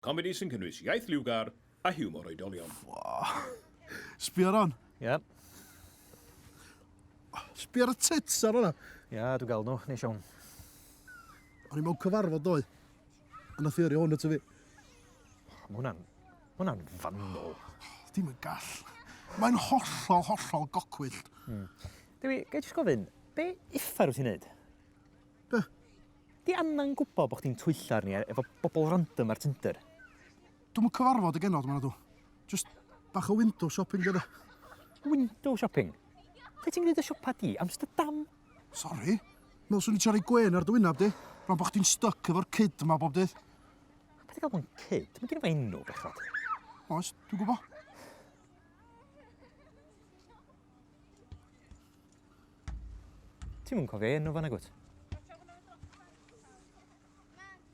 Comedi sy'n cynnwys iaith liwgar a hiwmor oedolion. Sbio ar hon. Ie. Sbio ar y tits ar hwnna. Ia, dwi'n gael nhw, neis iawn. O'n i mewn cyfarfod ddoe. A nath i yrru hwn ato fi. Mae hwnna'n... Mae hwnna'n fannol. Dim yn gall. Mae'n hollol, hollol gocwyllt. Dewi, gai jyst gofyn, be uffar wyt ti'n neud? Be? Di angan gwbo bo chdi'n twyllo arni efo bobl random ar Tinder. Dwi'm yn cyfarfod y genod ma nadw. Jyst bach o window shopping de. Window shopping? Lle ti'n gneud y siopa di? Amsterdam? Sori. Me'wl swn i trio roi gwên ar dy wynab di. Rwan bo chdi'n styc efo'r cyd ma bob dydd. Be ti'n galw'n cyd? Mae gen i fo enw, bechod. Oes, dwi'n gwybod. Ti'n mwyn cofio enw fan agwt?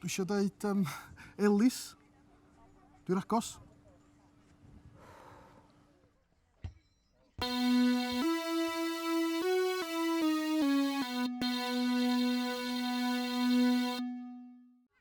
Dwi eisiau dweud um, Elis. Dwi'n agos.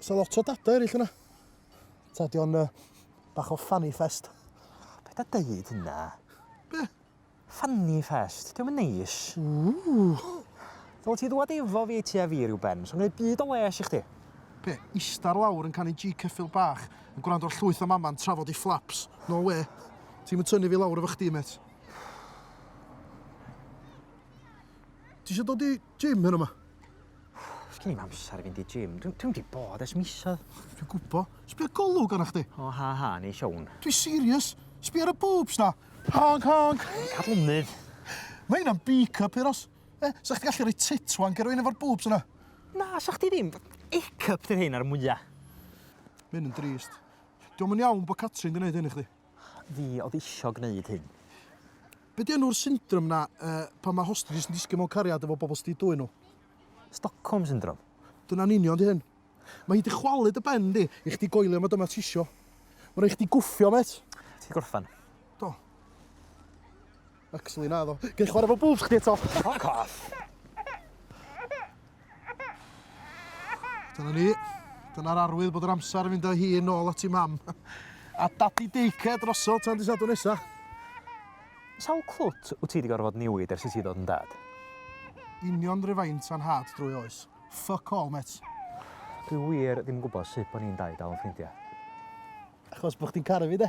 Os yna lot o data eraill yna. Ta, di o'n uh, bach o fanny fest. Be da dweud hynna? Be? Fanny fest, diolch yn neis. Ww. Fel ti ddwad efo fi ti a fi rhyw ben, so'n gwneud byd o les i chdi. Pe, istar lawr yn canu G cyffil bach, yn gwrando ar llwyth o mama'n trafod i flaps. No we. Ti'n mynd tynnu fi lawr efo chdi, met. Ti eisiau dod i gym hyn yma? Sgin i'm amser i fynd i gym. Dwi, dwi wedi bod ers misodd. Dwi'n gwbo. Sbio golwg arna chdi. O, ha, ha, neu siown. Dwi'n serious. Sbio ar y boobs na. Honk, honk. Cadlynydd. Mae hynna'n B-cup, Euros. Eh, sa chdi gallu rhoi tit wank ar rwy'n efo'r boobs yna? Na, sa chdi ddim. A-cup dy'r hyn ar mwyaf. Mae'n yn drist. Diolch yn iawn bod Catrin yn gwneud hyn i chdi. fi oedd isio gwneud hyn. Be' 'di enw'r syndrom 'na yy pan mae hostages yn disgyn mewn cariad efo bobl sydd 'di dwyn nhw? Stockholm Syndrome. Dyna'n union 'di hyn. Mae hi 'di chwalu dy ben di i chdi goelio mod yma tisio. Mae rhaid chdi gwffio mêt. Ti 'di gorffan? Do. Actually, na ddo. Gei chwarae fo bwls chdi eto. Fuck off. Dyna ni. Dyna'r arwydd bod yr amser yn fynd â hi yn ôl at i mam. A dadi deice drosodd tan di sadwn nesa. Sawl clwt wyt ti wedi gorfod newid ers i ti ddod yn dad? Union ryfaint a'n had drwy oes. Fuck all, met. Dwi wir ddim yn gwybod sut bod ni'n dau dal yn ffrindiau. Achos bod chdi'n caru fi, de?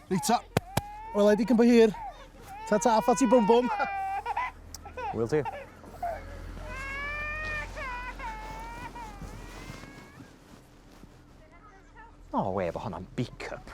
Reit ta. Wela i di cyn bo hir. Ta ta, ffa ti bwm bwm. Wyl ti. O, oh, we, bo hwnna'n beak-up.